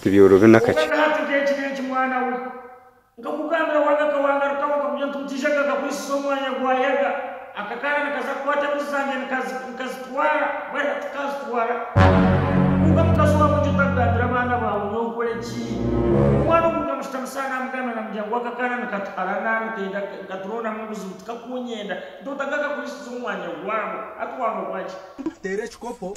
Tibyorobi nakakye. Obwenda hati nk'eki n'eki mwana we. Nkakugambira wanga akawanga rutaho nkakugira nti mutija gakakwisiza omwanya gwa yaga. Akakaana nikaza kukwata embuzi zangye nikazitwara bwari hati kazitwara. Kwonka mukazi wawe egi otagambira abaana bawe nyowe nkore ki? Omwana ogu nkamushitamisa aha namugambira namugira ngu akakaana nikatuharana nikenda nkaturondamu obuzibu tikakunyenda ntoota gakakwisiza omwanya gwabo hati wanga ogwaki? Teera ekikopo.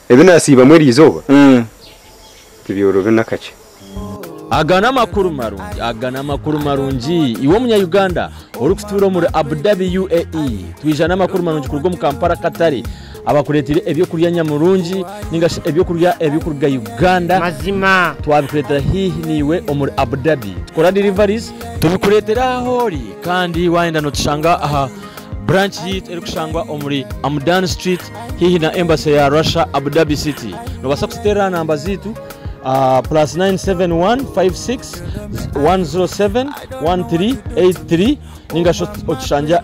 Ebi nasiibamu erizooba tibyorobi nakakye. Aga namakuru marungi aga namakuru marungi iwe omunya Uganda ori kutuura omuri Abu Dhabi UAE twija namakuru marungi kuruga omu Kampala Akatare abakureteire ebyokurya nyamurungi ninga shi ebyokurya ebiri kuruga Uganda twabikuretera haihi naiwe omuri Abu Dhabi tukora deliveries tubikuretera ahu ori kandi wayenda notushanga aha Branch yaitu erikushangwa omuri Amudan Street haihi na Embassy ya Russia Abu Dhabi City. Nobaasa kututeerera aha namba zaitu, plus 971 56 107 1383 ningashi otushangye aha